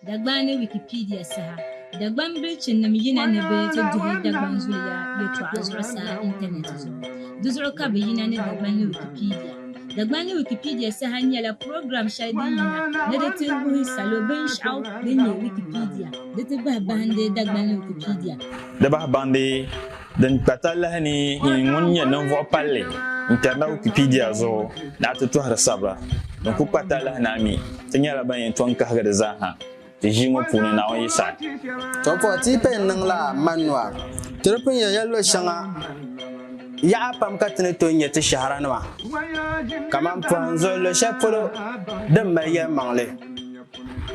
Dagbani Wikipedia saha Dagbani bilichinim yina ni bɛ ti duhi Dagbani zuliya yɛtɔɣa zuɣusaa intanɛti zuɣu. Di zuɣu ka bɛ yina ni Dagbani Wikipedia. Dagbani Wikipedia saha nyɛla program shɛli din yina ni di ti wuhi salo binshɛɣu din nyɛ Wikipedia di ti bahi bahindi Dagbani Wikipedia. Di bahi bahindi. Din kpa talahi ni yi ŋun nyɛ ninvuɣ palli n-kpɛri na Wikipedia zuɣu ni a ti tɔhiri sabira din kul kpa talahi ni a mi ti nyɛla ban yɛn tɔŋ kahigi di zaa ha ti ʒii ŋɔ puuni, Naawuni yi saɣi. To puhi ti yi paya n-niŋ la manua. Ti di pun yɛn ya luɣ shɛŋa yaɣa pam ka ti ni tooi nya ti shɛhira nima kaman pɔhim zuɣu luɣ shɛli polo din mali yɛlimaŋli.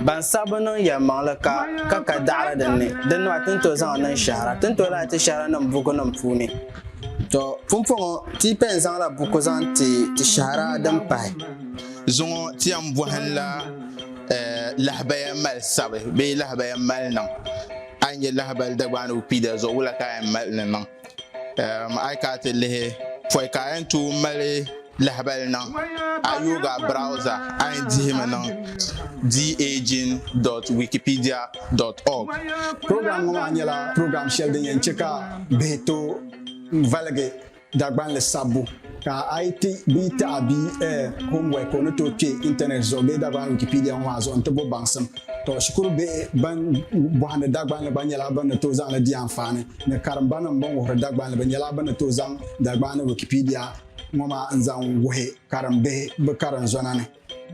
Ban sabbu niŋ yɛlimaŋli ka ka ka daɣiri din ni, din maa ti ni tooi zaŋ niŋ shɛhira, ti ni tooi lahi ti shɛhiranim bukunim puuni. Tɔ! Pumpɔŋɔ, ti yi pɛn zaŋla buku zaŋ ti ti shɛhira din pahi. Zuŋɔ ti yɛn bɔhinla lahabaya mali sabi bee lahabaya mali niŋ. A yi nya lahabali Dagbaanigu Kpiida zuɣu, wula ka a yɛn mali ni niŋ? A yi kana ti lihi pɔi ka a yɛn tooi mali lahabali niŋ a yooga browza a yɛn dihimi niŋ daging.wikipedia.org program ŋɔ maa nyɛla program shɛli din yɛn chɛ ka bihi tooi valigi Dagbanli sabbu Ka a yi ti bia taɣi bia eh, homework o ni tooi kpe intanet zuɣu bee Dagbani Wikipedia ŋɔ maa zuɣu nti bo baŋsim. Tɔ, shikuru bihi ban bɔhindi Dagbanli gba nyɛla bɛ ni tooi zaŋ li di anfaani ni karimbanim bɛn wuhiri Dagbanli bɛ nyɛla bɛ ni tooi zaŋ Dagbani Wikipedia ŋɔ maa n-zaŋ wuhi karimbihi bɛ karinzɔna ni.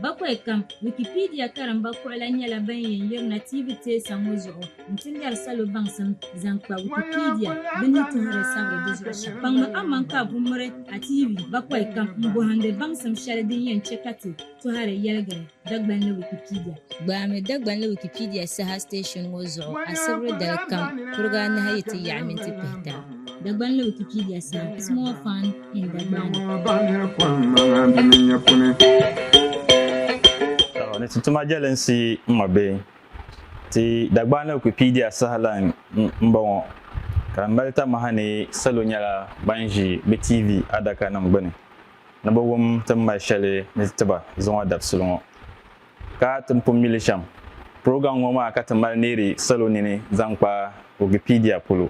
Bakwai kam, Wikipedia karimba kuɣila nyɛla ban yɛn yirina TV teesa ŋɔ zuɣu n-ti lɛri salo baŋsim zaŋ kpa Wikipedia bɛ ni tuhiri sabiri di zuɣu shɛm. Kpaŋmi aman ka a bummiri a TV bakwai kam m-bɔhindi baŋsim shɛli din yɛn chɛ ka ti tɔhiri yɛligiri Dagbanli Wikipedia. Gbaami Dagbanli Wikipedia saha station ŋɔ zuɣu asibiri dali kam kuriga anahi yi ti yaɣi minti pihita. Dagbanli Wikipedia saha, Small Fund. ni ti tuma jɛlinsi n ŋɔ bee ti Dagbani Wikipedia sahalan m-bɔŋɔ ka di mali tamaha ni salo nyɛla ban ʒi bɛ TV adakanim gbuni ni bɛ wum ti ni mali shɛli ni ti ba zuŋɔ dabisili ŋɔ. ka ti ni pun mi li shɛm. Program ŋɔ maa ka ti mali neeri salo nini zaŋ kpa Wikipedia polo.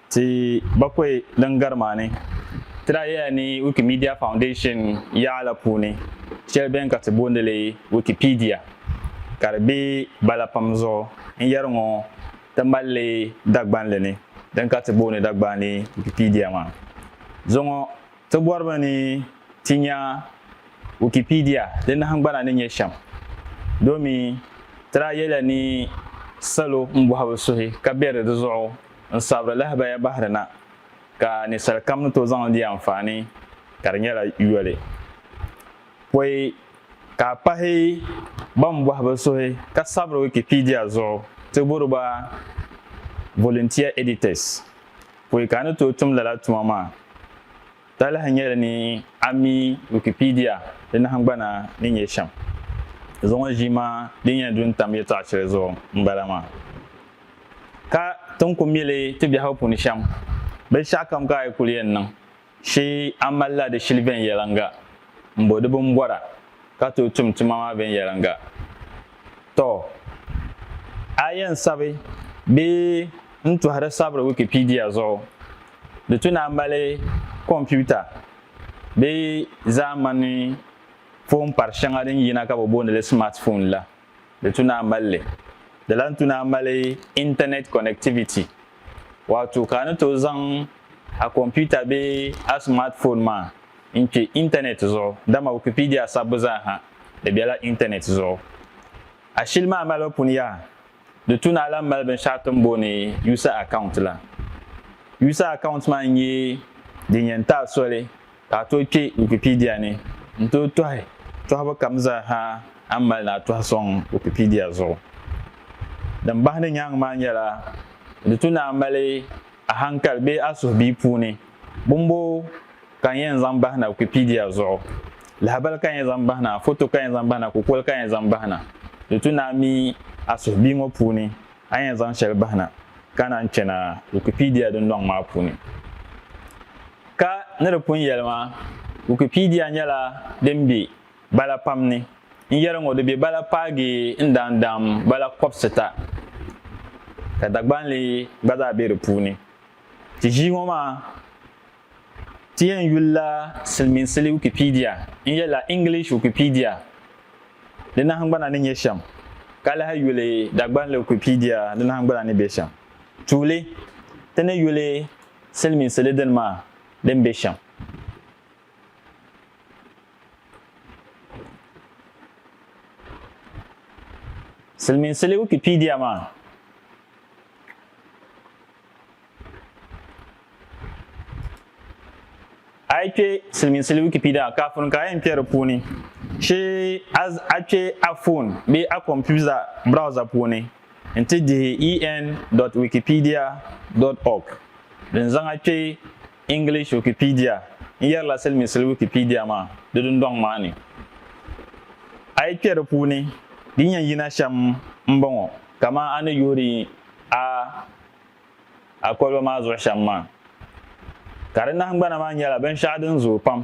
Ti bakɔi din gari maa ni, ti daa yɛla ni Wikimedia Foundation yaɣa la puuni shɛli beni ka ti boondi li Wikipedia ka di be bala pam zuɣu n-yɛri ŋɔ ti mali li Dagbanli ni din ka ti boondi Dagbaani Wikipedia maa zuɣu ŋɔ. Ti bɔrimi ni ti nya Wikipedia di nahingbana ni nyɛ shɛm domi ti daa yɛla ni salo m-bɔhi bɛ suhi ka beri di zuɣu n-sabiri lahibaya bahiri na ka ninsal kam ni tooi zaŋli di anfaani ka di nyɛla yoli pɔi ka a pahi ban bɔhi bɛ suhi ka sabiri Wikipedia zuɣu ti buri ba volunteer editors. Pɔi ka a ni tooi tum lala tuma maa? Talahi nyɛli ni a mi Wikipedia di nahingbana ni nyɛ shɛm. Zuŋɔ ʒiima din yɛn du n-tam yɛtɔɣ shɛli zuɣu m-bala maa. Ka ti ni ku mi li ti biɛhigu puuni shɛm, binshɛɣukam ka a yi kul yɛn niŋ, Shi a malila di shili viɛnyɛliŋga m-bo di bimbɔra ka tooi tum tuma maa viɛnyɛliŋga. Tɔ! A yɛn sabi bee n-tɔhiri sabiri Wikipedia zuɣu, di tu ni a mali kompiuta bee zaamani foon pari shɛŋa din yina ka bɛ booni li smartphone la. Di tu naa mali li. Di lan tu naa mali Internet connectivity, waato ka a ni tooi zaŋ a kɔmputa bee a smartphone maa n-kpe Internet zuɣu, dama Wikipedia sabbu zaaha di bela Internet zuɣu. A shili maa malibu pun yaha, di tu naa lan mali binshɛɣu ti ni booni User Account la. User Account maa n-nyɛ din yɛn ti a soli. Ka a tooi kpe Wikipedia ni n-tooi tɔhi tɔhibu kam zaa ha a ni mali ni a tɔhi sɔŋ Wikipedia zuɣu. Din bahi di nyaaŋa maa nyɛla di tu ni a mali a hankali bee a suhubia puuni bumboo ka n yɛn zaŋ bahi na Wikipedia zuɣu. Lahabali ka n yɛn zaŋ bahi na, foto ka n yɛn zaŋ bahi na, kukoli ka n yɛn zaŋ bahi na. Di tu ni a mi a suhubia ŋɔ puuni a ni yɛn zaŋ shɛli bahi na ka naan chana Wikipedia dundɔŋ maa puuni. Ka ni di pun yɛli maa, Wikipedia nyɛla din be bala pam ni. N yɛri ŋɔ di be bala paagi n daan daam bala kɔbisita, ka Dagbanli gba zaa be di puuni. Ti ʒii ŋɔ maa, ti yɛn yuli la silimiinsili Wikipedia n-yɛli la English Wikipedia di nahingbana ni nyɛ shɛm, ka lahi yuli Dagbanli Wikipedia di nahingbana ni be shɛm. Tuuli, ti ni yuli Silimiinsi li dini maa din be shɛm. Silimiinsi li Wikipedia maa. A yi kpe Silimiinsi li Wikipedia maa kafuni ka a yɛn kpe di puuni, shi a kpe a foon bee a kompuza browser puuni. N-ti dihi en dot wikipedia dot org din zaŋ a kpe English Wikipedia n-yɛrila siliminsili Wikipedia maa di dundɔŋ maa ni. A yi kpe di puuni, din yɛn yina shɛm m-bɔŋɔ kaman a ni yoori a. A koliba maa zuɣu shɛm maa, ka di nahingbana maa nyɛla binshɛɣu din zooi pam,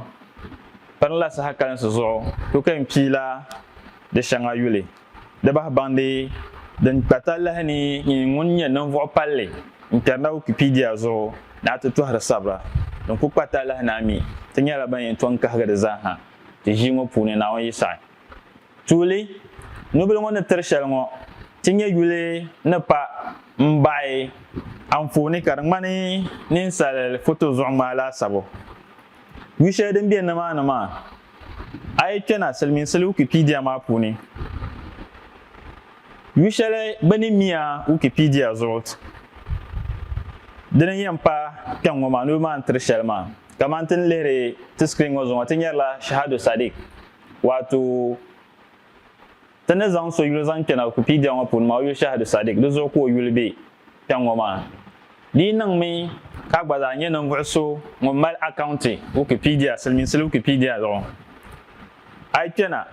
pirila saha kalinsi zuɣu ku ka n kpi la di shɛŋa yuli, di bahi baŋdi din kpa talahi ni nyini ŋun nyɛ ninvuɣ palli n-kpɛri na Wikipedia zuɣu ni a ti tɔhiri sabira din ku kpa talahi ni a mi ti nyɛla ban yɛn tɔŋ kahigi di zaa ha ti ʒii ŋɔ puuni Naawuni yi saɣi. Tuuli nubila ŋɔ ni tiri shɛli ŋɔ ti nyɛ yuli ni pa m-baɣi anfooni ka di ŋmani ninsali foto zuɣu ŋmaa laasabu. Yu shɛli din be nimaani maa, a yi kpe na Silimiinsili Wikipedia maa puuni, yu shɛli bɛ ni mi a Wikipedia zuɣu dini n-yɛn pa kpɛŋŋɔ maa nubila maa ni tiri shɛli maa. Kamani ti ni lihiri ti screen ŋɔ zuɣu ŋɔ ti nyarila Shahado Sadiq Waato, ti ni zaŋ so yuli zaŋ kpɛna Wikipedia ŋɔ puuni maa o yuli Shahadu Sadiq, di zuɣu ka o yuli be kpɛŋ ŋɔ maa. Di yi niŋmi ka a gba zaa nyɛ ninvuɣ so ŋun mali akaunti Wikipedia, silimiinsili Wikipedia zuɣu, a yi kpɛna,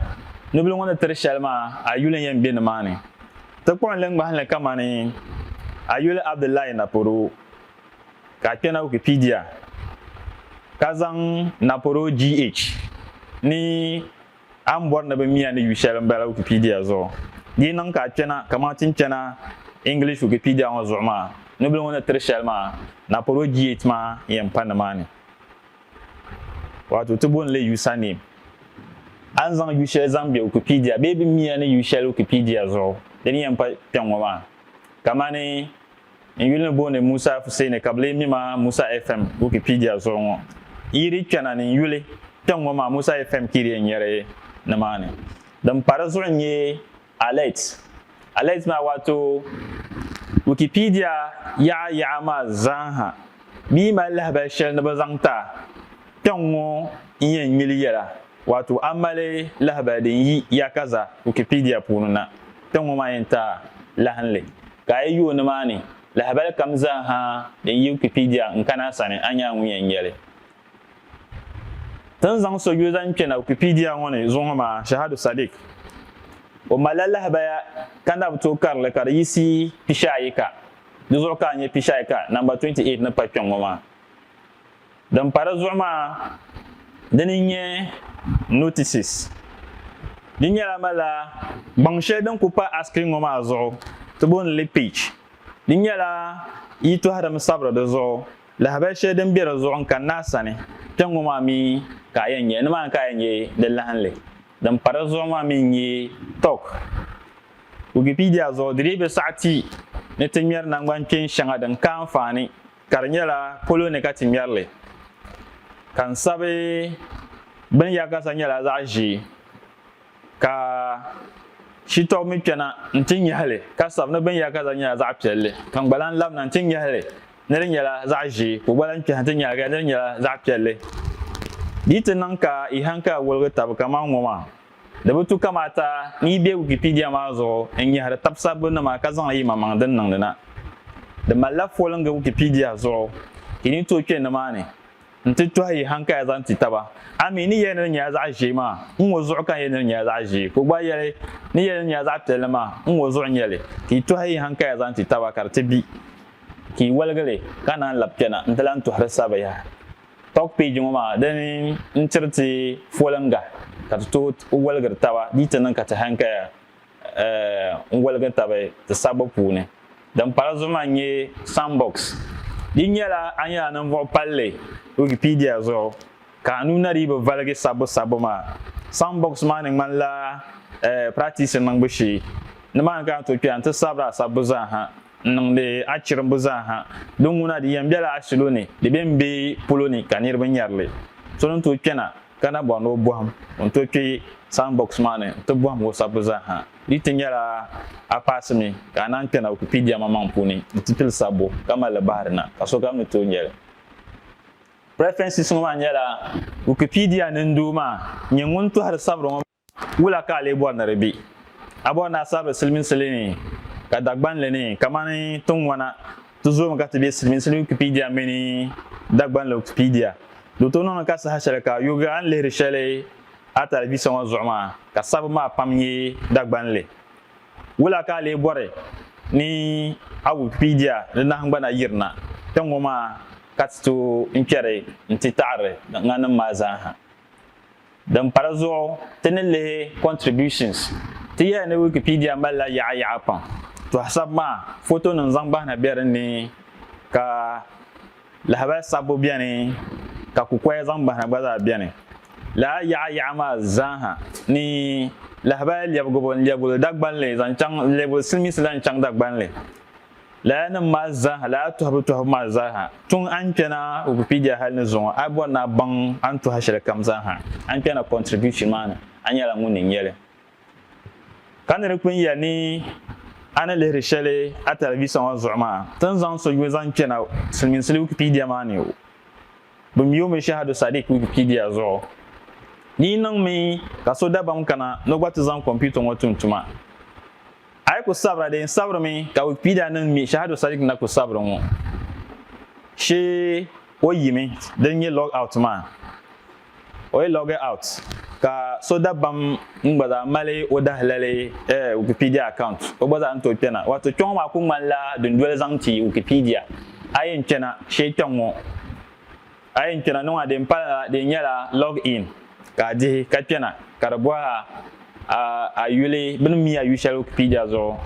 nubila ŋɔ ni tiri shɛli maa, a yuli n-yɛn be nimaani. Ti kpuɣi n li ŋmahi li kamani a yuli Abdullahi Naporo. Ka a kpɛna Wikipedia ka zaŋ Naporo GH ni A ni bɔri ni bɛ miya ni yu shɛli m-bala Wikipedia zuɣu. Di yi niŋ ka a kpɛna kaman ti ni chana English Wikipedia ŋɔ zuɣu maa, nubila ŋɔ ni tiri shɛli maa, Naporo GH maa yɛn pa nimaani. Waato ti booni li username. A ni zaŋ yu shɛli zaŋ be Wikipedia bee bɛ miya ni yu shɛli Wikipedia zuɣu, di ni yɛn pa kpɛŋ ŋɔ maa. Kamani N yuli ni booni Musa Fuseni ka bɛ lee mi ma Musa FM Wikipedia zuɣu ŋɔ. Yi di kpɛna ni n yuli tiŋ ŋɔ maa Musa FM Kirie n-nyɛri nimaani. Din pa di zuɣu n-nyɛ Alert. Alert maa waato Wikipedia yaɣa yaɣa maa zaa ha bi yi mali lahabali shɛli ni bɛ zaŋ ti a kpɛŋ ŋɔ n-yɛn nyili yɛla. Wato a mali lahabali din yi Yaakaza Wikipedia puuni na, ti ŋɔ maa yɛn taai lahinli. Ka a yi yooi nimaani, lahabali kam zaa ha din yi Wikipedia n kani a sani, a nyaaŋu yɛn nya li. Ti ni zaŋ so yuli zaŋ kpɛna Wikipedia ŋɔ ni zuŋɔ maa, Shahadu Sadiq. O malila lahabaya ka na bi tooi kari li ka di yiɣisi pishiayika. Di zuɣu ka a nya pishiayika namba 28 ni pa kpɛŋŋɔ maa. Din pa di zuɣu maa, dini n nyɛ notices. Di nyɛla malila gbaŋ shɛli din ku pa askiri ŋɔ maa zuɣu ti booni li page. Di nyɛla yitohi din sabiri di zuɣu, lahabali shɛli din be di zuɣu n kanna a sani kpe ŋɔ maa mi ka a yɛn nya. Nimaani ka a yɛn nya di lahinli. Din pa di zuɣu maa mi n nyɛ talk. Wikipedia zuɣu di dii bi saɣi ti ni ti ŋmɛri naŋgban kpeeni shɛŋa din ka anfaani Ka di nyɛla polo ni ka ti ŋmɛri li, ka n sabi bini ya ka sa nyɛla zaɣ ʒee, ka shitɔbu mi kpɛna nti nyahi li ka sabi ni bini ya ka sa nyɛla zaɣ piɛlli, ka n gba lan labina nti nyahi li ni di nyɛla zaɣ ʒee, ka o gba lan kpɛhi nti nyahi li ka di nyɛla zaɣ piɛlli. Di yi ti niŋ ka yi haŋkali woligi tabi kaman ŋɔ maa, Di bi tu kamaata ni yi be Wikipedia maa zuɣu n-nyɛhiri tab sabbu nima ka zaŋ yi maŋmaŋ dini niŋdi na. Di malila foliŋgi Wikipedia zuɣu. Yi ni tooi kpe nimaani nti tɔhi yi hankaya zaŋ ti taba. A mi, ni yɛli ni di nyɛla zaɣ ʒee maa, n ŋɔ zuɣu ka n yɛli ni di nyɛla zaɣ ʒee, ka o gba yɛli, ni yɛli ni di nyɛla zaɣ piɛlli maa, n ŋɔ zuɣu n-nyɛ li. Ka yi tɔhi yi hankaya zaŋ ti taba ka di ti bi. Ka yi waligi li ka naan labi kpɛna nti lan tɔhiri sabiya. Talk peji ŋɔ maa di ni n-tiri ti foliŋga ka ti tooi waligiri taba di yi ti niŋ ka ti hankaya n-waligi tabi ti sabbu puuni. Din pala zuɣu maa n-nyɛ Sandbox. Di nyɛla a nyɛla ninvuɣ palli Wikipedia zuɣu ka a nuu na dii bi valigi sabbu sabbu maa. Sandbox maa ni ŋmanila practice niŋbu shee. Nimaani ka a ni tooi kpɛya nti sabiri a sabbu zaa ha. N niŋdi a chirimbu zaaha. Di ŋuna di yɛn bela a salo ni, di be m be polo ni ka niriba nyari li. So din tooi kpɛna ka na bɔri ni o bɔhim o ni tooi kpe sound box maa ni nti bɔhim o sabbu zaaha. Di ti nyɛla a paasi mi ka a naan kpɛna Wikipedia maŋmaŋ puuni nti pili sabbu ka mali li bahiri na ka sokam ni tooi nya li. Preferences ŋɔ maa nyɛla Wikipedia nindoo maa nyɛ ŋun tɔhiri sabiri ŋɔ maa. Wula ka a lee bɔri ni di be? A bɔri ni a sabiri siliminsili ni ka Dagbanli ni? Kamani tiŋwana, ti zoomi ka ti be siliminsili Wikipedia mini Dagbanli Wikipedia. Di tooi niŋdi ka saha shɛli ka yoogi a ni lihiri shɛli a talivisa ŋɔ zuɣu maa ka sabbu maa pam nyɛ Dagbanli. Wula ka a lee bɔri ni a Wikipedia di nahingbana yirina kpe ŋɔ maa ka ti tooi n-kpɛri nti taɣiri tiŋanim maa zaa ha? Din pa di zuɣu, ti ni lihi contributions, ti yɛli ni Wikipedia malila yaɣa yaɣa pam. Tɔhasab maa, fotonim zaŋ bahi na be din ni, ka lahabali sabbu beni, ka kukoya zaŋ bahi na gba zaa beni. Lala yaɣa yaɣa maa zaa ha ni, lahabali lɛbigibo n-lɛbigi li Dagbanli zaŋ chaŋ, n-lɛbigi li Silimiinsi la n-chaŋ Dagbanli. Laya nim maa zaaha, laya tɔhibu tɔhibu maa zaaha, tuŋ a ni kpɛna Wikipedia hali ni zuŋɔ, a bɔri ni a baŋ a ni tɔhi shɛli kam zaaha a ni kpɛna contribution maa ni, a nyɛla ŋun ni nya li. Ka ni di kpini ya ni a ni lihiri shɛli a talivisa ŋɔ zuɣu maa, ti ni zaŋ so yuui zaŋ kpɛna silimiinsili Wikipedia maa ni. Bɛ mi o mi Shahadu Sadiq Wikipedia zuɣu Di yi niŋ mi ka so dabam kana ni o gba ti zaŋ kɔmputa ŋɔ tum tuma, a yi ku sabira dee n-sabiri mi ka Wikipedia niŋ mi Shahadu Sadiq na ku sabiri ŋɔ shee o yimi din nyɛ log out maa. o yi log out ka so dabam n gba zaa mali o dahilali eh, Wikipedia account o gba zaa ni tooi kpɛna. Wato kpɛŋɔ maa ku ŋmanila dundoli zaŋ ti Wikipedia. A yi yɛn kpɛna shee kpɛŋŋo, a yi yɛn kpɛna niŋɔ a din pali la di nyɛla log in ka a dihi ka kpɛna ka di bɔhi a a yuli bini mi a yu shɛli Wikipedia zuɣu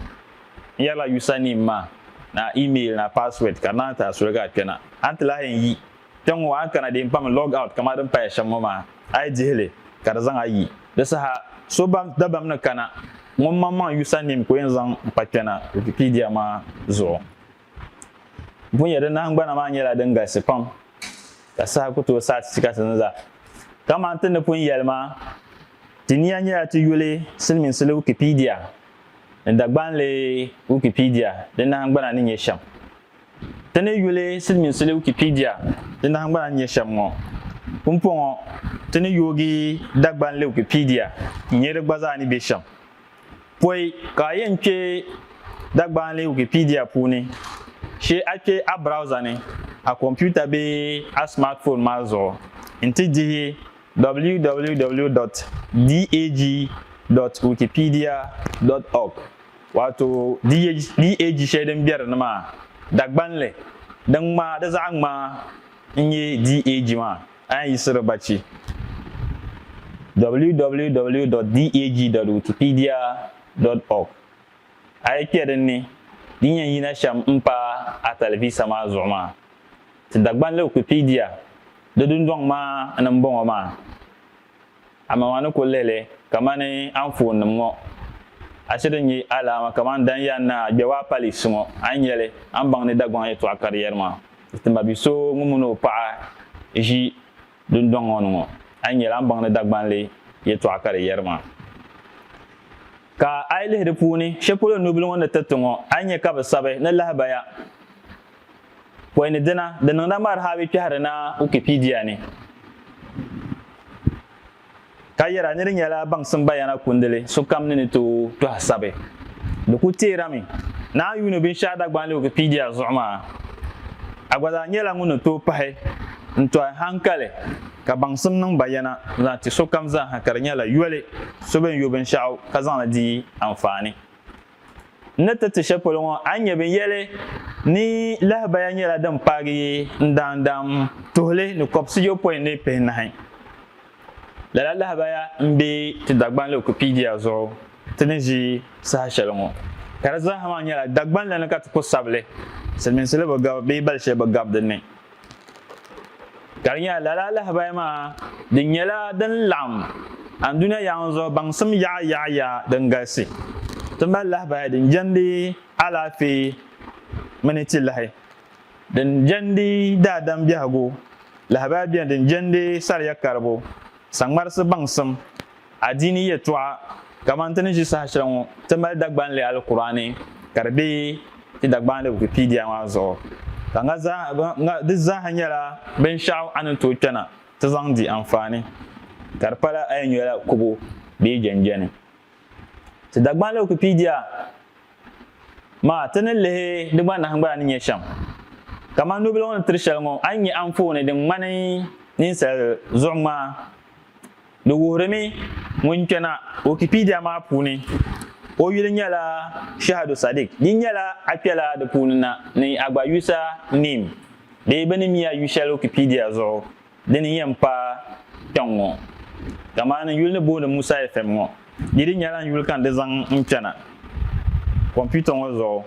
n yɛrila username maa ni a email ni a password ka di naan ti a soli ka a kpɛna a ni ti lahi yɛn yi Kpɛŋ ŋɔ a ni kana din kpaŋ log out kaman din paya shɛm ŋɔ maa, a yi dihi li ka di zaŋ a yi. Di saha so bam dabam ni kana ŋun maŋmaŋ user name ka o yɛn zaŋ n-kpa kpɛ na Wikipedia maa zuɣu. N pun nya di nahingbana maa nyɛla din galisi pam ka saha ku tooi saɣi ti ti ka ti ni zaa. Kaman ti ni pun yɛli maa, ti nia nyɛla ti yuli silimiinsili Wikipedia ni Dagbanli Wikipedia di nahingbana ni nyɛ shɛm. Ti ni yuli Silimiinsili Wikipedia di nahingbana n-nyɛ shɛm ŋɔ. Pumpɔŋɔ ti ni yoogi Dagbanli Wikipedia n-nyɛ di gba zaa ni be shɛm. Pɔi ka a yɛn kpe Dagbanli Wikipedia puuni shee a kpe a browser ni a komputa bee a smartphone maa zuɣu n-ti dihi www dot dag dot wikipedia dot org. Waato di ye di eji shɛli din beri ni maa, dagbanli din ŋmaa di zaɣa ŋmaa n nye di eji maa, a yan yiɣisiri bachi www.deg.wikipedia.org a yi kpe din ni din yen yina shem m pa a talivisa maa zuɣu maa. Ti dagbanli Wikipedia di dundoŋ maa ni m boŋɔ maa. Amaa a ni ku lihi li kamani anfoonnim ŋɔ, a chɛ din nyɛ alaama kamani dan yɛn ni a gbɛbu a paliisi ŋɔ, a ni nya li, a ni baŋ ni Dagbaŋ yɛtɔɣa ka di yɛri maa, Di ti ma bi so ŋun mini o paɣa ʒi dundɔŋ ŋɔ ni ŋɔ, a ni nya li a ni baŋ ni Dagbanli yɛtɔɣa ka di yɛri maa. Ka a yi lihi di puuni, shɛli polo nubila ŋɔ ni tiriti ŋɔ, a ni nya ka bɛ sabi ni lahibaya. Pɔi ni dina, di niŋda Marhabi kpɛhiri na Wikipedia ni ka yɛra ni di nyɛla baŋsim bayana kundili sokam ni ni tooi tɔhi sabi. Di ku teerami ni a yuuni binshɛɣu Dagbani Wikipedia zuɣu maa, a gba zaa nyɛla ŋun ni tooi pahi n-tɔhi haŋkali ka baŋsim niŋ bayana zaŋ ti sokam zaaha ka di nyɛla yoli so bɛn yo binshɛɣu ka zaŋ li di anfaani. N ni tiriti shɛli polo ŋɔ, a ni nya binyɛli ni lahabaya nyɛla din paagi yi n daandam tuhili ni kɔbisiyopɔin ni pihinahi. Lala lahabaya m-be ti Dagbanli Wikipedia zuɣu ti ni ʒi saha shɛli ŋɔ, ka di zaa ha maa nyɛla Dagbanli ni ka ti ku sabi li. Silimiinsili bi gabi bee bali shɛli bi gabi di ni. Ka di nyɛla lala alahibahi maa di nyɛla din laɣim andunia yaŋ zuɣu baŋsim yaɣa yaɣa ya din galisi. Ti mali lahibahi din jɛndi alaafee mini ti lahi, din jɛndi daadam biɛhigu, lahibahi beni din jɛndi sariya karibu, saŋmarisi baŋsim, Adiini yɛltɔɣa kamani ti ni ʒi saha shɛli ŋɔ, ti mali Dagbanli Alkur'aani ka di be ti Dagbanli Wikipedia maa zuɣu, ka ŋa zaa, ŋa di zaa ha nyɛla binshɛɣu a ni tooi kpɛna ti zaŋ di anfaani, ka di pala a yɛn nyɔla kubu bee jɛnjɛni. Ti Dagbanli Wikipedia maa, ti ni lihi di gba nahingbana ni nyɛ shɛm. Kamani nobiligu ni tiri shɛli ŋɔ, a ni nya anfooni din ŋmani ninsal zuɣuŋmaa Di wuhirimi ŋun kpɛna Wikipedia maa puuni, o yuli nyɛla Shahadu Sadiq. Di nyɛla a kpɛla di puuni na ni a gba user name bee bɛ ni mi a yu shɛli Wikipedia zuɣu dini yɛn pa kpɛŋ ŋɔ. Kamani n yuli ni booni Musa FM ŋɔ, di dii nyɛla n yuli ka n di zaŋ n kpɛna kompiuta ŋɔ zuɣu.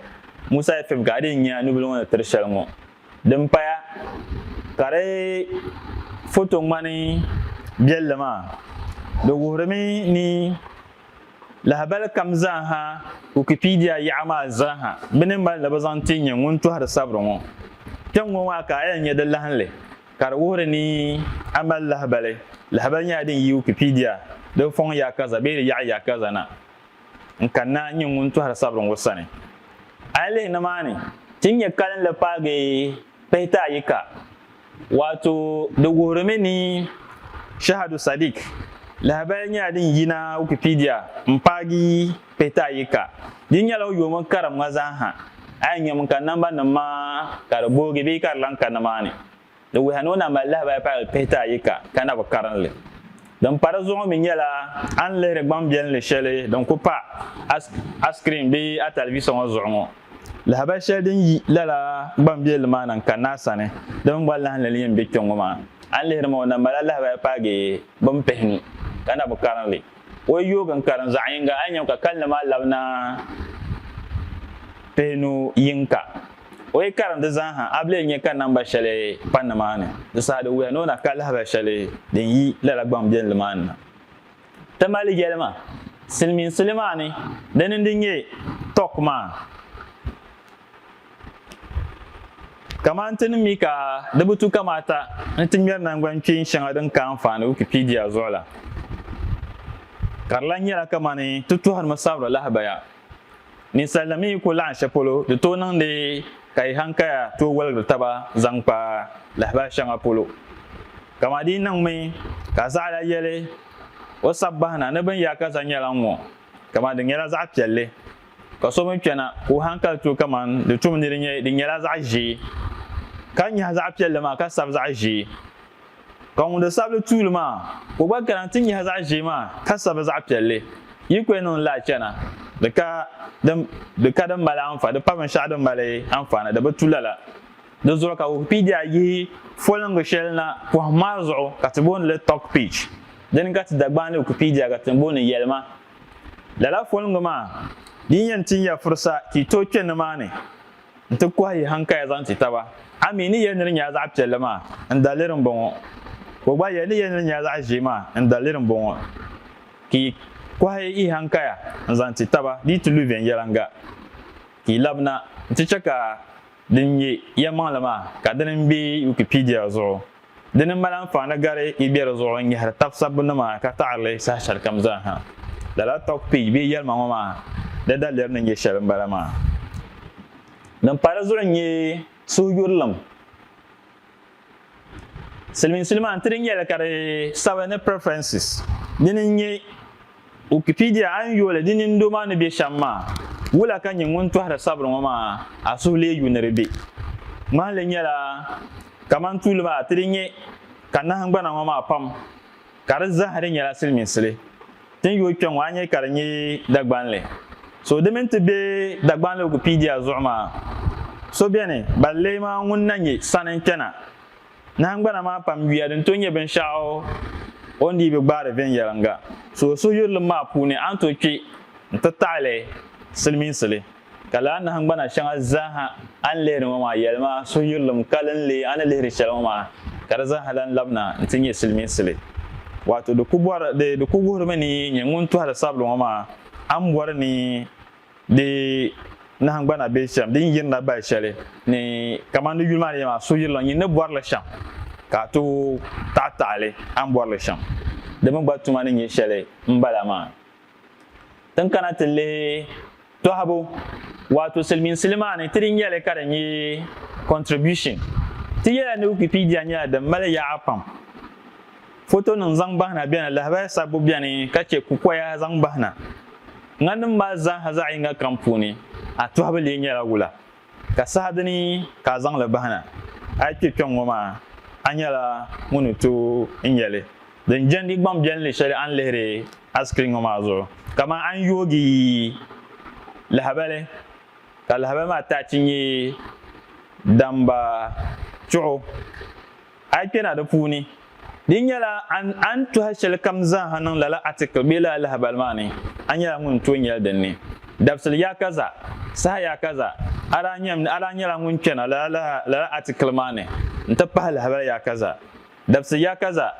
Musa FM ka a dii nya nubili ŋɔ ni tiri shɛli ŋɔ. Din paya ka di foto ŋmani biɛlli maa, di wuhirimi ni lahabali kam zaaha Wikipedia yaɣa maa zaaha bi ni mali ni bi zaŋ ti nyɛ ŋun tɔhiri sabiri ŋɔ. Kpɛŋ ŋɔ maa ka a yɛn nya di lahinli ka di wuhiri ni a mali lahabali. Lahabali nyɛla din yi Wikipedia di fɔŋ yaakaza bee di yaɣa yaakaza na. n ka naai nyɛ ŋun tɔhiri sabiri ŋɔ sani. A yi lihi nimaani, ti ni nyɛ kalinli paagi pihita ayi ka, waato di wuhirimi ni Shahadu Sadiq lahibali nyɛla din yina Wikipedia m-paagi pihita ayi ka. Di nyɛla o yoomi karim ŋa zaa ha. A yi nyam ka nambanima maa ka di boogi bee ka di lahi ka nimaani. Di wuhiya ni o na mali lahabaya paagi pihita ayi ka ka na bi karin li. Din pa di zuɣu mi nyɛla a ni lihiri gbaŋ biɛlinli shɛli din ku pa a a screen bee a talivisa ŋɔ zuɣu ŋɔ. Lahabaya shɛli din yi lala gbaŋ biɛlinli maa na n-kani naa sani, di mini gba lahinli ni yɛn be kpɛŋ ŋɔ maa. A ni lihiri ma o na mali a lahabaya paagi bin pihi ni ka na bi karin li. O yi yoogi n-karin zaɣ yiŋga a ni nyam ka kalinli maa labi na pihi nu yiŋka. O yi karim di zaa ha, a bi lee nya ka namba shɛli pa nimaani. Di saha di wuya ni o na ka lahabali shɛli din yi lala gbaŋ biɛnli maa ni na. Ti mali yɛlima silimiinsili maa ni di ni di nyɛ tɔk maa. Kamani ti ni mi ka di bi tu kamaata ni ti ŋmɛri nangbani kpeen shɛŋa din ka anfaani Wikipedia zuɣu la, ka di lan nyɛla kamani ti tɔhirimi sabiri lahabaya. Ninsal nim yi ku laɣim shɛli polo, di tooi niŋdi ka yi hankaya tooi woligiri taba zaŋ kpa lahabali shɛŋa polo. Kaman di yi niŋmi ka zaɣila yɛli o sabbahi na ni bini yaa ka zaŋ nyɛla ŋ-ŋɔ, kaman di nyɛla zaɣ piɛlli, ka so mi kpɛna ka o hankali tooi kaman di tum ni di nyɛ di nyɛla zaɣ ʒee, ka nyahi zaɣ piɛlli maa ka sabi zaɣ ʒee. Ka ŋun di sabili tuuli maa, ka o gba kana nti nyahi zaɣ ʒee maa ka sabi zaɣ piɛlli, yi kuli niŋ lala chana, di ka din di ka din mali anfa, di pa binshɛɣu din mali anfaani, di bi tu lala. Di zuɣu ka Wikipedia yihi foliŋgi shɛli na pɔhim maa zuɣu ka ti booni li Talk Pitch. Dini ka ti Dagbaŋli Wikipedia ka ti booni Yɛlima. Lala foliŋgi maa, di ni yɛn ti nya furisa ka yi tooi kpe nimaani, nti kɔhi yi hankaya zaŋ ti taba. A mi ni yɛli ni di nyɛla zaɣ piɛlli maa, n daliri m-bɔŋɔ. Ka o gba yɛli ni yɛli ni di nyɛla zaɣ ʒee maa, n daliri m-bɔŋɔ. Ka yi kɔhi yi hankaya n-zaŋ ti taba di yi ti lu viɛnyɛliŋga, ka yi labi na nti chɛ ka din nyɛ yɛlimaŋli maa ka dini m-be Wikipedia zuɣu. Di ni mali anfaani gari yi be di zuɣu n-nyɛhiri tab sabbunima ka taɣiri li saha shɛlikam zaa ha. Lala talk page bee yɛlima ŋɔ maa di daliri ni nyɛ shɛli m-bala maa. Din pahi di zuɣu n-nyɛ suhuyurilim. Silimiinsuli maa n-ti di nyɛli ka di sabi ni preferences. Dini n-nyɛ. Wikipedia, A ni yooli di nini doo maa ni be shɛm maa, wula ka nyɛ ŋun tɔhiri sabiri ŋɔ maa a suhu lee yu ni di be? Ŋmahili nyɛla kamani tuuli maa ti di nyɛ ka nahingbana ŋɔ maa pam ka di zahir di nyɛla siliminsili ti ni yooi kpe ŋɔ a nyɛ ka di nyɛ Dagbanli. So di mini ti be Dagbanli Wikipedia zuɣu maa, So beni, bali lee maa ŋun na nyɛ sani n-kpɛna Nahingbana maa pam yuya din tooi nyɛ binshɛɣu o ni dii bi gbaari viɛnyɛliŋga so o suhuyurilim maa puuni a ni tooi kpi n-ti taɣili silimiinsili. Ka lala nahingbana shɛŋa zaaha a ni lihiri ŋɔ maa yɛlima suhuyurilim kalinli a ni lihiri shɛli ŋɔ maa ka di zaaha lan labina nti nyɛ silimiinsili. Waato di ku bɔri, di ku wuhirimi ni yi nyɛ ŋun tɔhiri sabiri ŋɔ maa a ni bɔri ni di nahingbana bee shɛm din yirina bahi shɛli ni kamani di yuli maa ni yɛli maa suhuyirili nyin ni bɔri li shɛm ka a tooi taɣi taɣi li a ni bɔri li shɛm di mi gba tuma ni nyɛ shɛli m-bala maa. Tin kana ti lihi tɔhibu waato silimiinsili maa ni ti di nyɛli ka di nyɛ contribution ti yɛla ni Wikipedia nyɛla din mali yaɣa pam. Fotonim zaŋ bahina beni, lahabaya sabbu beni ka chɛ kukoya zaŋ bahina. Ŋaninim maa zaaha zaɣ yiŋga kam puuni, a tɔhibu lee nyɛla wula, ka saha dini ka a zaŋ li bahina? A yi kpe kpiɔŋ ŋɔ maa, a nyɛla ŋun ni tooi nya li din jɛndi gbaŋ biɛlinli shɛli a ni lihiri a sikirin ŋɔ maa zuɣu. Kaman a ni yoogi lahabali ka lahabali maa tachi nyɛ damba chuɣu. A yi kpɛna di puuni, di nyɛla a ni tɔhi shɛlikam zaaha niŋ lala atikili bee lala lahabali maa ni, a nyɛla ŋun tooi nyɛli din ni. Dabisili yaakaza, saha yaakaza, a daa nyam ni a daa nyɛla ŋun kpɛna lala lala atikili maa ni n-ti pahi lahabali yaakaza. Dabisili yaakaza,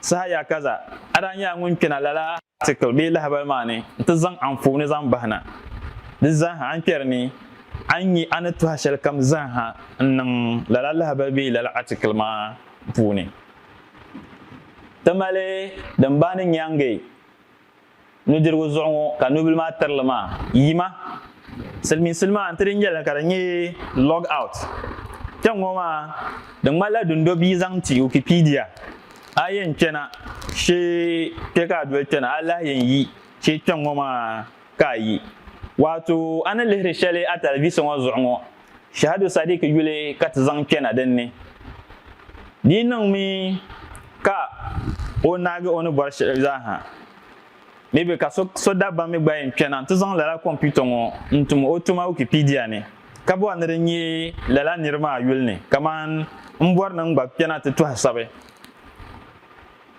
saha yaakaza, a daa nyɛla ŋun kpɛna lala. Atikil bee lahabali maa ni nti zaŋ anfooni zaŋ bahi na. Di zaaha a ni kpɛri ni a nya a ni tɔhi shɛlikam zaaha n-niŋ lala lahabali bee lala atikil maa puuni. Ti mali din bahi ni Nyaŋe nudirigu zuɣu ŋɔ ka nubila maa tiri li maa, yima, silimiinsili maa nti di nya li ka di nyɛ log out. Kpɛŋŋɔ maa di ŋmanila dundo bia zaŋ ti Wikipedia. A yɛn chana shee kpe ka a doli chana, a lahi yɛn yi shee kpɛŋ ŋɔ maa ka a yi. Waato a ni lihiri shɛli a talivisa ŋɔ zuɣu ŋɔ, Shahadu Sadiq yuli ka ti zaŋ kpɛna din ni. Di yi niŋmi ka o naagi o ni bɔri shɛli zaa ha, Maybe ka so so dabba mi gba yɛn kpɛna nti zaŋ lala kɔmputa ŋɔ n-tum o tuma Wikipedia ni, ka bɔri ni di nyɛ lala nir maa yuli ni, kaman m bɔri ni n gba kpɛna ti tɔhi sabi.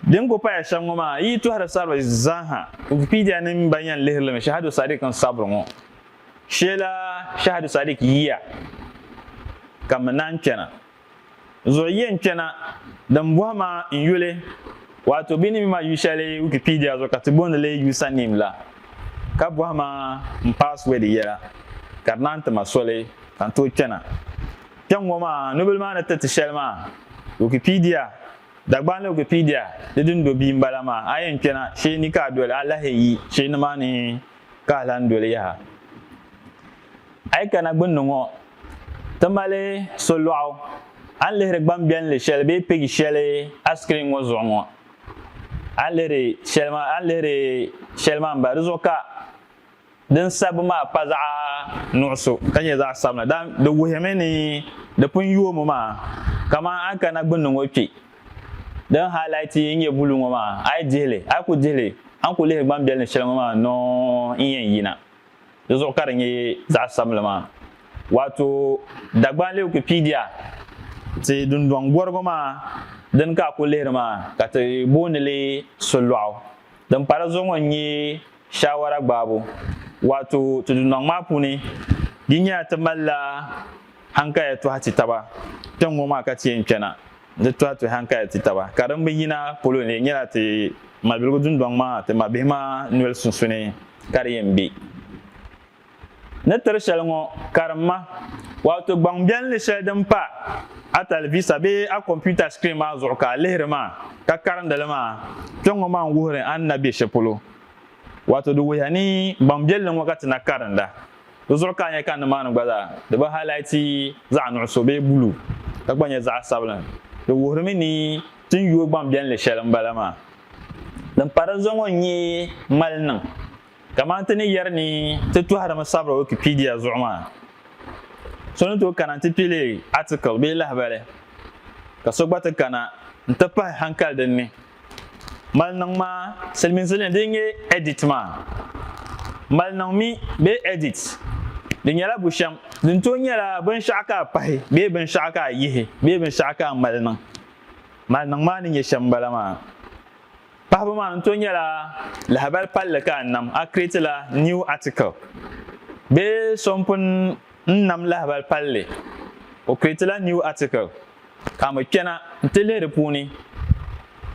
Din ku paya shɛm ŋɔ maa, yi yi tɔhiri sabiri zaaha, Wikipedia ni m ba yɛn lihiri li mi Shahadu Sadiq n sabiri ŋɔ. Sheela Shahadu Sadiq yiya ka mi naan kpɛna. zuɣu yɛn kpɛna din bɔhi maa n yuli, waato bɛ ni mi ma yu shɛli Wikipedia zuɣu ka ti booni li username la, ka bɔhi ma n password yɛla, ka di naan ti ma soli ka n tooi kpɛna. Kpɛŋŋɔ maa, nubila maa ni tiriti shɛli maa, Wikipedia, Dagbani la Wikipedia di dundo bia m-bala maa, a yɛn kpɛna shee ni ka a doli alahi yi shee nimaani ka a lahi doli yaha. A yi kana gbunni ŋɔ, ti mali solɔɣu a ni lihiri gbambiɛlli shɛli bee pig shɛli a screen ŋɔ zuɣu ŋɔ. A ni lihiri shɛli maa, a ni lihiri shɛli maa m-ba, di zuɣu ka din sabbu maa pa zaɣ nuɣiso ka nyɛ zaɣ sabinli. Daan di wuhimi ni di pun yoomi maa. Kaman a ni kana gbunni ŋɔ kpe, din highlight n-nyɛ buluu ŋɔ maa, a yi dihi li, a yi ku dihi li, a ni ku lihiri gbambiɛlli shɛli ŋɔ maa nɔɔ n-yɛn yina. Di zuɣu ka di nyɛ zaɣ sabinli maa. Waato Dagbanli Wikipedia, Ti dundɔŋ gɔrigu maa din ka a ku lihiri maa ka ti booni li solɔɣu. Din pala zuɣu ŋɔ n-nyɛ shaawara gbaabu. Waato ti dundɔŋ maa puuni di nyɛla ti malila hankaya tɔhi ti taba tiŋ ŋɔ maa ka ti yɛn kpɛna n ti tɔhi ti hankali ti taba ka din bi yina polo n lee nyɛla ti malibiligu dundɔŋ maa ti mabihi maa noli sunsuuni ka di yɛn be ni tiri shɛli ŋɔ karimma waato gbaŋbiɛlli shɛli din pa a talivisa bee a kɔmputa sikirin maa zuɣu ka a lihiri maa ka karindi li maa kpe ŋɔ maa n-wuhiri a ni na be shɛli polo waato di wuhiya ni gbaŋbiɛlli ŋɔ ka ti na karinda Di zuɣu ka a nya ka nimaani gba zaa di bi halaiti zaɣ nuɣiso bee buluu, ka gba nyɛ zaɣ sabila. Di wuhirimi ni ti ni yooi gbaŋbiɛlli shɛli m-bala maa. Din pa di zuɣu ŋɔ n-nyɛ mali niŋ. Kamani ti ni yɛri ni ti tɔhirimi sabira Wikipedia zuɣu maa, so ni tooi kana nti kpe leei article bee lahibali, ka so gba ti kana nti pahi hankali dinni. Mali niŋ maa silimiinzilini din nyɛ edit maa mali niŋ mi bee edit di nyɛla bushɛm din tooi nyɛla binshɛɣu ka a pahi bee binshɛɣu ka a yihi bee binshɛɣu ka a mali niŋ mali niŋ maa ni nyɛ shɛm bala maa pahibu maa ni tooi nyɛla lahabali palli ka a nam a create la new article bee so n pun n nam lahabali palli o create la new article Ka mi kpɛna nti lihi di puuni,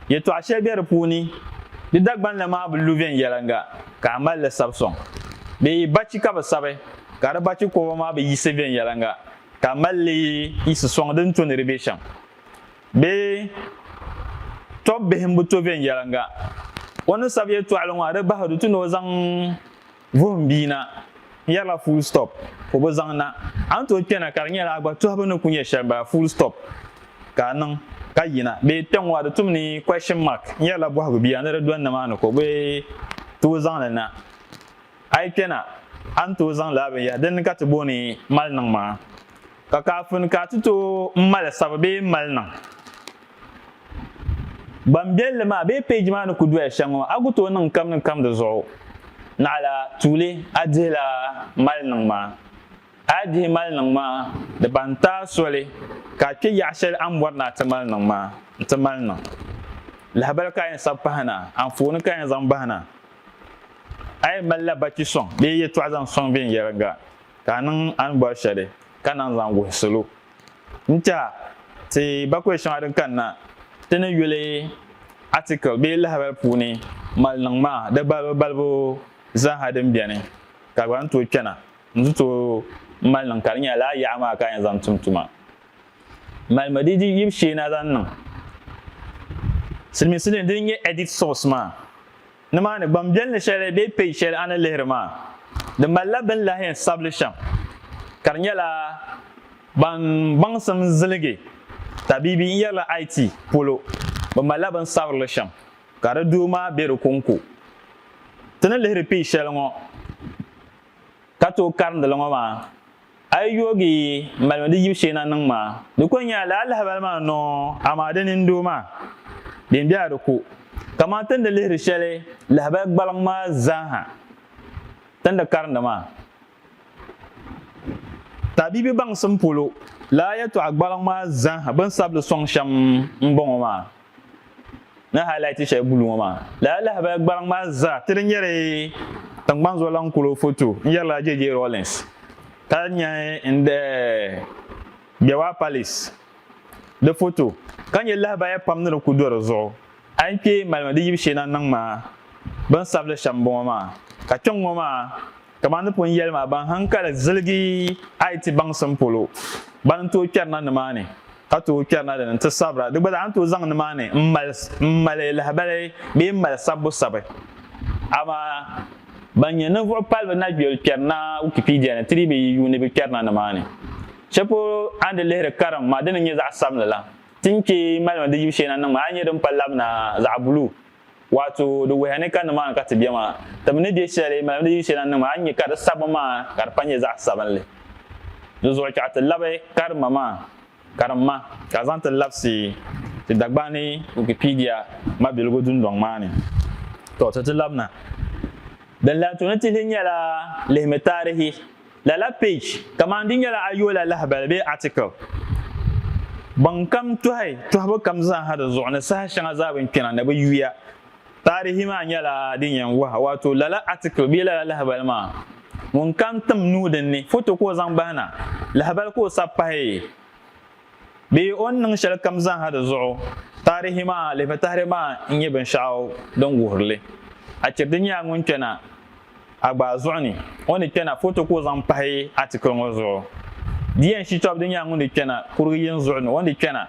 yɛtɔɣ shɛli be di puuni, di Dagbaŋ la maa bi lu viɛnyɛliŋga ka a mali li sabi sɔŋ, bee yi bachi ka bi sabi ka di bachi kɔba maa bi yiɣisi viɛnyɛliŋga ka a mali li yiɣisi sɔŋ di ni to ni di be shɛm, bee tɔb bihi m-bi to viɛnyɛliŋga, o ni sabi yɛtɔɣili ŋɔ a di bahi du ti ni o zaŋ Vuhim bia na, n yɛrila full stop, o bi zaŋ na. A ni tooi kpɛna ka di nyɛla a gba tɔhibu ni ku nyɛ shɛli bala full stop ka a niŋ ka yina bee kpɛŋɔ a di tum ni question mark n yɛrila bɔhigu bia ni di dɔni ni maa ni ka o bi tooi zaŋ li na. A yi kpɛna a ni tooi zaŋ lala binyɛri din ni ka ti booni mali niŋ maa ka kafin ka a ti tooi mali sabi bee mali niŋ. Gbambiɛlli maa bee peeji maa ni ku doya shɛm ŋɔ, a ku tooi niŋ kam ni kam di zuɣu. Naɣila, tuuli a dihi la mali niŋ maa. A yi dihi mali niŋ maa, di ban ti a soli ka a kpe yaɣ shɛli a ni bɔri ni a ti mali niŋ maa nti mali niŋ. Lahibali ka a yɛn sabi pahi na, anfooni ka a yɛn zaŋ bahi na. A yɛn mali la bachi sɔŋ bee yɛtɔɣa zaŋ sɔŋ viɛnyɛliŋga ka a niŋ a ni bɔri shɛli ka naŋ zaŋ wuhi salo. N-tɛha ti bakɔi shɛŋa din kanna ti ni yuli atikil bee lahibal puuni mali niŋ maa, di balibu balibu zaaha din beni, ka gba ni tooi kpɛna n-ti tooi mali niŋ ka di nyɛla lala yaɣa maa ka a yɛn zaŋ tum tuma. Malimi di yibu shee na zaŋ niŋ silimiinsi ni dini n-nyɛ edit source maa. Nimaani, gbanbiɛlli shɛli bee page shɛli a ni lihiri maa, di malila bɛ ni lahi yɛn sabili shɛm, ka di nyɛla ban baŋsim ziligi tabiibi n yɛrila IT polo, bɛ malila bɛ ni sabiri li shɛm, ka di doo maa be di kɔŋko. Ti ni lihiri page shɛli ŋɔ ka tooi karindi li ŋɔ maa, A yi yoogi malimi di yib shee na niŋ maa, di kuli nyɛla lala lahabali maa n-niŋ o, amaa di nini doo maa, din be a di ku. Kaman ti ni di lihiri shɛli lahabali gbaliŋ maa zaaha, ti ni di karindi maa, taabibi baŋsim polo, lala yɛltɔɣa gbaliŋ maa zaaha bɛ ni sabi li sɔŋ shɛm m-bɔŋɔ maa, ni highlight shɛli bulu ŋɔ maa lala lahabaya gbariŋ maa zaa ti di nyɛri tiŋgbani zuɣu laŋ kolo foto n yɛrila JJ Rawlings ka nyɛ n de Bewa Palace di foto ka nyɛ lahabaya pam ni di ku do di zuɣu a yi kpee malimi di yibu shee na niŋ maa bin sabili shɛm bɔŋɔ maa ka kpɛŋ ŋɔ maa Kaman di pun yɛli maa, ban haŋkali ziligi Ayiti baŋsim polo, bana n-tooi kpɛrina nimaani, ka tooi kpɛrina di ni nti sabira. Di gba zaa ni tooi zaŋ nimaani m-mali lahibali bee m-mali sabbu sabi. Amaa ban nyɛ ninvuɣ palibu na yoli kpɛrina Wikipedia ni ti dii bi yi yuuni bɛ kpɛrina nimaani. Shɛli polo a ni di lihiri karim maa, di ni nyɛ zaɣ sabinli la, ti ni kpe malimi di yibu shee na niŋmi a ni nya din pa labina zaɣ buluu. Waato di wuhiya ni ka nimaani ka ti be maa, ti mi ni be shɛli malimi di yili shɛli na niŋ maa, a ni nya ka di sabbu maa ka di pa nyɛ zaɣ sabinli. Di zuɣu chɛɣu ti labi karimma maa, karimma, ka zaŋ ti labisi ti Dagbani ni Wikipedia mabiligu dundɔŋ maa ni. Tɔ, ti ti labina. Din lahi to ni ti li nyɛla lihimi taarihi. Lala page kamani di nyɛla ayoola lahibali bee article. Baŋkam tɔhi tɔhibu kam zaaha di zuɣu ni saha shɛŋa zaa bini kpɛna ni bɛ yuya. Taarihi maa nyɛla din yɛn wahi waato lala article bee lala lahibali maa ŋun kan tim nuhi dinni, foto ka o zaŋ bahi na, lahibali ka o sabi pahi. bee o ni niŋ shɛli kam zaaha di zuɣu, taarihi maa lihibitahiri maa n-nyɛ binshɛɣu din wuhiri li. Achirdi nyɛla ŋun kpɛna a gbaa zuɣu ni o ni kpɛna foto ka o zaŋ pahi atikili ŋɔ zuɣu. Di yɛn Shitɔbdi nyɛla ŋun di kpɛna kurigi yini zuɣu ni o ni kpɛna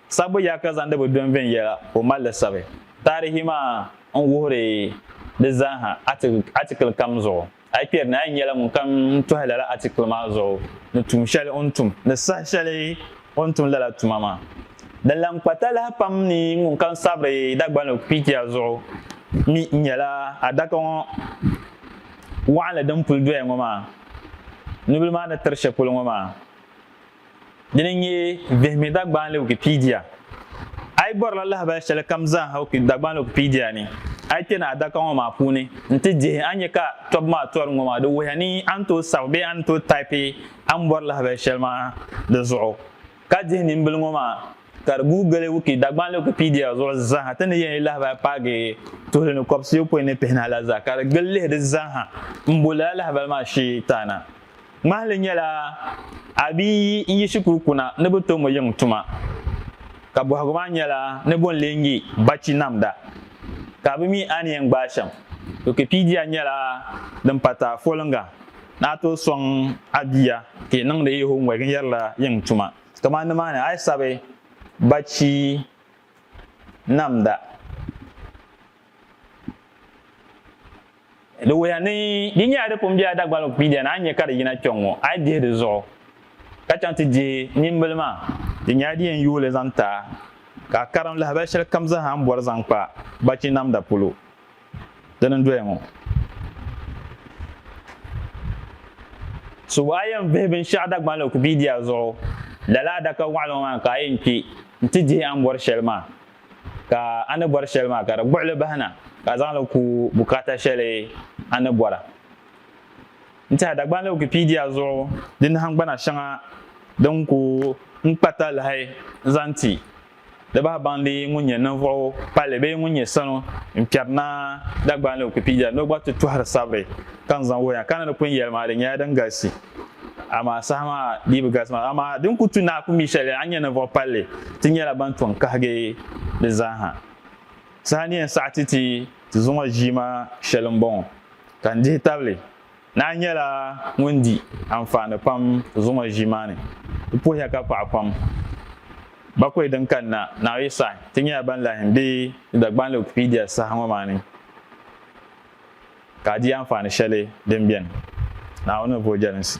sabbu yaa ka zaŋdi bi dɔn viɛnyɛla ka o mali li sabi taarihi maa n-wuhiri di zaaha atikili kam zuɣu. A yi kpɛri ni a yi nyɛla ŋun kam tɔhi lala atikili maa zuɣu ni tuun shɛli o ni tum ni saha shɛli o ni tum lala tuma maa, din lan kpa talahi pam ni ŋun kam sabiri Dagbani Wikipedia zuɣu mi nyɛla adaka ŋɔ waɣinli din puli doya ŋɔ maa nubili maa ni tiri shɛli polo ŋɔ maa. Dini n nyɛ Vihimi Dagbaanli Wikipedia. A yi bɔrila lahabali shɛli kam zaaha Dagbaanli Wikipedia ni, a yi kpe ni adaka ŋɔ maa puuni nti dihi a ni nya ka tɔbu maa tɔri ŋɔ maa di wuhiya ni a ni tooi sabi bee a ni tooi taipi a ni bɔri lahabali shɛli maa di zuɣu. Ka dihi nimbili ŋɔ maa ka di guui gili wiki Dagbaanli Wikipedia zuɣu zaaha ti ni yɛn yi lahabali paagi tuhili ni kɔbisiyopɔin ni pihinahi la zaa ka di gili lihi di zaaha m-bo lala lahabali maa shee taana. Ŋmahili nyɛla a bi yi yi shikuru kuna ni bɛ to mo yiŋ tuma, ka bɔhigu maa nyɛla ni bɔ n-lee ŋe bachi namda ka a bi mi a ni yɛn gbaai shɛm. Wikipedia nyɛla din pa taai foliŋga ni a tooi sɔŋ a bia ka yi niŋdi yi homework n-yɛri la yiŋ tuma. Kamani nimaani a yi sabi bachi namda. Di wuhiya ni di nyɛla di pun bela Dagbani kpiidiya ni a ni nya ka di yina kpe ŋ-ŋɔ, a yi dihi di zuɣu ka chaŋ ti dihi nimbila maa, di nyɛla di yɛn yuui li zaŋ ti a ka a karim lahabali shɛlikam zaa a ni bɔri zaŋ kpa bachi namda polo. Dini n-doya ŋɔ. So a yɛn vihi binshɛɣu Dagbani Wikipedia zuɣu, lala adaka waɣila ŋɔ maa ni ka a yɛn kpe nti dihi a ni bɔri shɛli maa. ka a ni bɔri shɛli maa ka di buɣili bahi na ka a zaŋ li ku bukaata shɛli a ni bɔra. N tɛha Dagbanli Wikipedia zuɣu di nahingbana shɛŋa din ku n kpa talahi n zaŋ ti di bahi baŋ di ŋun nyɛ ninvuɣu palli bee ŋun nyɛ sanu n kpɛri na Dagbanli Wikipedia ni o gba ti tɔhiri sabiri ka n zaŋ wuhiya ka ni di ku n yɛli maa di nyɛla din galisi. amaa saha maa dii bi galisi maa amaa din ku tu naai ku mi shɛli a ni nyɛ ninvuɣ palli ti nyɛla ban tɔŋ kahigi di zaaha. Saha ni yɛn saɣi ti ti ti zuŋɔ ʒiima shɛli m-bɔŋɔ, ka n dihi tabili naai nyɛla ŋun di anfaani pam zuŋɔ ʒiima ni. Di puhiya ka paɣi pam. Bakɔi din kanna naai yi saɣi, ti nyɛla ban lahi be di Dagbanli Wikipedia saha ŋɔ maa ni. Ka a di anfaani shɛli din beni Naawuni ni bo jɛlinsi.